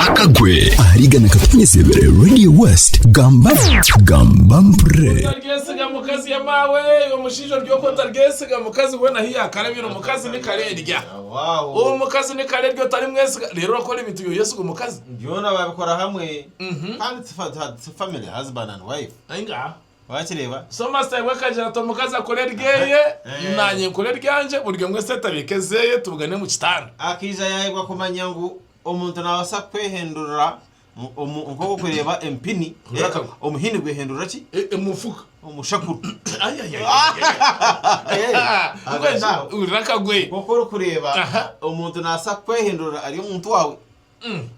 akagwe ahariga nakatukunyesebere radio west gamba gamba mpre otaryesiga mukazi ya maawe omushaija ori oku otaryesiga mukazi weena ahu yaakarabire omukazi ni kare erya omukazi ni kare erya otarimwesiga reero orakora ebintu yooyesiga omukazi byona babikora hamwe kandi family husband and wife. Wakireeba? So master iwe akagira ati omukazi akore eryeye Eh. nanye nkore eryangye buri omwe esente abiike ezeeye tubugane omu kitanda. Akaija yaayebwa kumanya ngu omuntu naabaasa kwehendurira mu- omu- nk'oku orikureeba empini, Hurira eh, akagu. omuhini gwehendurira ki? E- Emufuka. Omushakuru. Ai, ai, ai, ai, ai. Eh, Hurira akagwe. Nk'oku orikureeba Aha. omuntu naabaasa kwehendurira ari omuntu waawe.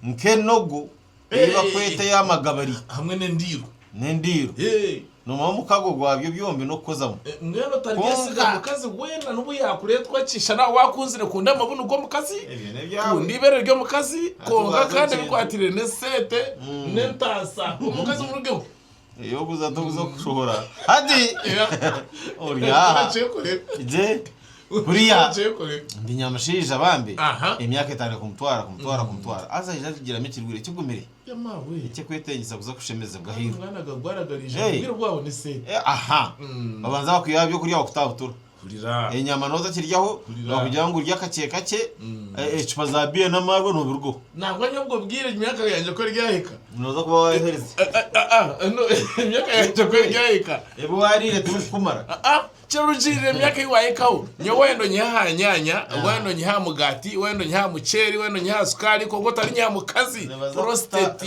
nk'enogo ei barikweta ey'amagabari hamwe n'endiiro, n'endiiro noomanya omukago gwabyo byombi n'okukozamu. Mbwenu otaryesiga mukazi weena n'obu yaakureetwa ki, shana ahu waakunzire kunda amabunu g'omukazi, kunda eibeere ry'omukazi, kwonka kandi ebikwatiraine n'esente n'entaasa, omukazi murugeho. Eyokuza tokuza okushohora hati ori aha gye kuriya ndi nyamushaija bambi emyaka etandika kumutwara kumutwara kumutwara haza aija ajugiramu ekirwire kigumire ekyekwetengisa kuza kushemezebwa ahairwe aha babanza bakwihaho ebyokurya bakutabutura. enyama noza kiryaho nokugira ngu orye akakye kakye ecupa za beer namarwa nobirugaho nangwa nyowe obwo bwire emyaka yangye ku eryahika noza kuba waherize emyaka yangye ku eryahika ebi warire tibikukumara kirugiirire emyaka eyi wahikaho nyowe wayenda onyihe aha nyanya wayenda onyihe aha mugati wayenda onyihe aha muceeri wayenda onyihe aha sukaari kwonka otarinyiha mukazi prostate.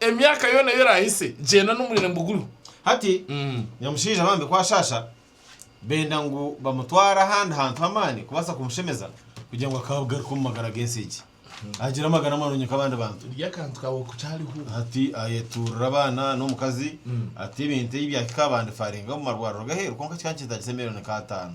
Emyaka yoona ei oraahise gyenda n'omwine mbuguru. Hati, nyamushaija bambi ku ashaasha, benda ngu bamutware ahandi hantu h'amaani kubaasa kumushemeza, kugira ngu akaabugaruka omu magara g'ensi egi, agire amagara marungi nk'abandi bantu. Rya akantu kaawe oku kyariho. Hati ayetuurira abaana n'omukazi ati, Ebintu ebi byahika, bandifaaringa omu marwariro g'aheeru, kwonka kikaba nikintaagisa miliyoni nka ataano.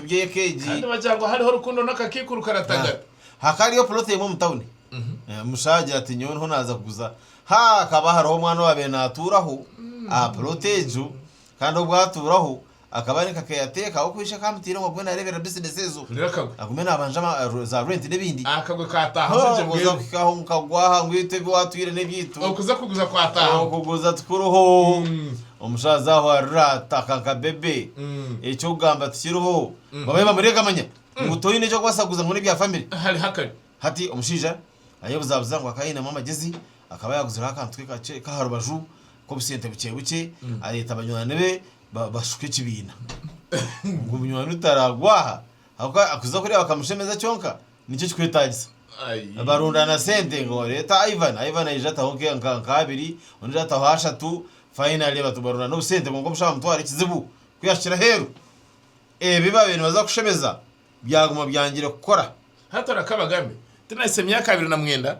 by'eka egi. Kandi bagira ngu hariho rukundo n'akakaikuru karatagata. Hakaba hariyo puloti emwe omu tauni. Omushija agira ati, Nyowe ndiho naaza kuguza. Hakaba hariho omwana owaabaire naatuuraho aha puloti egyo. Kandi obu atuuraho, akaba ari nka keyateeka ahabw'okuba ishe akaba amutaireho agume naareeberera bizinesi ezo. Agume naabanja za reenti n'ebindi. Akagwe kaataahamu gye mbwenu. Okuza kuhika aho ngu kagwa aha ngu itwe ebi waatwire n'ebyaitu. Okuza kuguza kwataahamu. Okuguza tikuriho. Omushaja aho arira ati akanka baby ekyokugamba tikiriho bamwe bamurega manya ngu toyine ekyokubaasa kuguza ngu nebya family hariho akari. Hati omushaija ayebuzabuza ngu akaba ayinemu amagezi akaba yaguzireho akantu ke kakye kaharubaju kobusente bukye bukye ayeta banywani be bashuka ekibiina ngu munywani we taragwa aha ahabwokuba kuza kuriya bakamushemeza kyonka Niki ekikwetagisa? Barundana sente ngu reta Ivan, Ivan aija ataho nka nka abiri, ondijo ataho ashatu, finally batu barundana obusente kwonka omushaho amutwara ekizibu ku yahikire aheru. Ebi baabaire nibaza kushemeza byaguma byangire kukora. Hati orakabagambe, Tinahitsya myaka abiri na mwenda,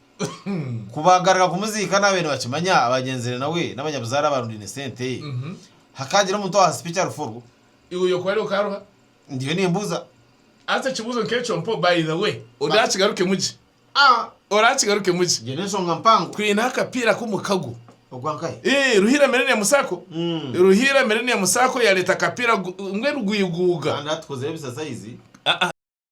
Ku baagaruka kumuziika naabaire nibakimanya abaagenzire nawe n'abanyabuzaare abaarundaine sente. Hakaagira omuntu owaha sipiki aruforo. Iwe oyoka wari okaaruha? Ndiyo nimbuuza. Haza ekibuuzo nk'ekyo mpo by the way. Oraakigarukemu gye. Ah! Oraakigarukemu gye. Egyo n'enshonga mpango. Twineho akapiira k'omukago. Ogwa nkahe? Ii, Ruhiira Millennium Sacco. Ruhiira Millennium Sacco yaareeta akapiira ngu, Rwiguuga. Kandi hati tukozeeho ebisasayizi. Ah-ah.